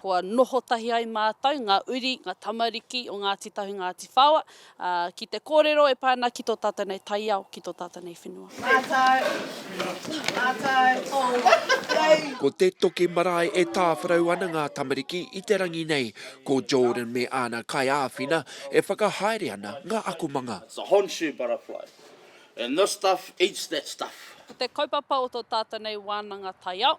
Kua noho tahi ai mātou, ngā uri, ngā tamariki o Ngāti Tahu, Ngāti Whaoa, ki te kōrero e pā ana ki tō tātou nei taiao, ki tō tātou nei whenua. Mātou, mātou, tōu whakatau. Ko te toki marae e tāwharau ana ngā tamariki i te rangi nei. Ko Jordan me āna kaiāwhina e whakahaere ana ngā akomanga. It's a Honshu butterfly. And this stuff eats that stuff. Ko te kaupapa o tō tātou nei wānanga taiao.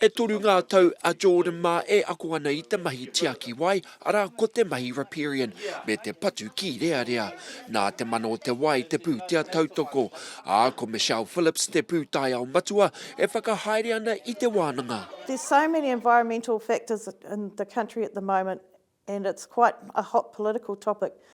E toru ngā tau a Jordan mā e ako ana i te mahi tiaki wai, arā, ko te mahi riparian me te patu kīrearea. Nā te mana o te wai te pūtea tautoko, ā, ko Michelle Phillips te pūtaiao matua e whakahaere ana i te wānanga. There's so many environmental factors in the country at the moment and it's quite a hot political topic.